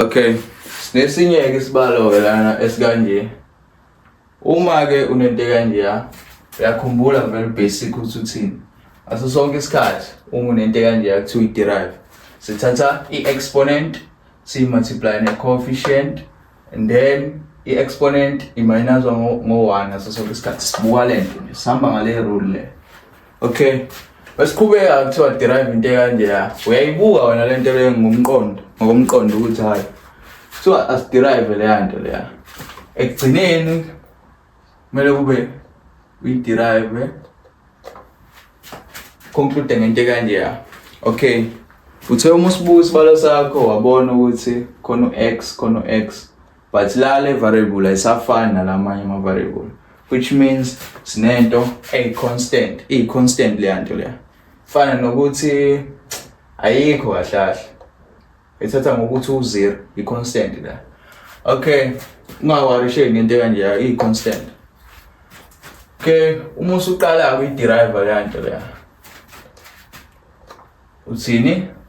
okay sinesinye-ke isibalo-ke lana esikanje uma-ke unento ekanjeya uyakhumbula vele basic ukuthi uthini aso sonke isikhathi uma unento ekanjeya kuthiwa i-derive sithatha i-exponent siyi-multiply ne-coefficient and then i-exponent iminazwa ngo-one aso sonke isikhathi sibuka le nto nje sihamba ngale rule le okay Wesiqhubeka kuthiwa derive into ekanje ya. Uyayibuka wena le nto leyo ngomqondo, ngokomqondo ukuthi hayi. Kuthiwa asiderive leya nto leya. Ekugcineni kumele kube uyiderive conclude ngento ekanje ya. Okay. Uthe uma usibuka isibalo sakho wabona ukuthi khona u-X khona u-X but la le variable ayisafani nalamanye ama variable which means sinento a constant i constant le nto leya fana nokuthi ayikho kahle kahle ethatha ngokuthi u0 i constant la okay ungawarisheki ngento kanje i constant okay uma usuqala uyi derive le nto leya uthini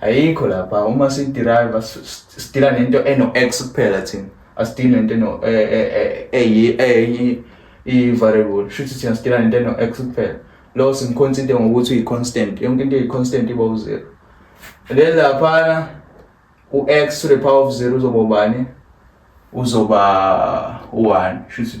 ayikho lapha uma sidrive sidila nento eno-x kuphela thina asidili nento eno e, e, e, eyi i-variable shuthi thina sidila nento eno-x kuphela lo simkhonsinte ngokuthi uyi-constant yonke into eyi-constant iba u-zero then laphana u-x to the power of zero uzoba ubani uzoba u-one shuthi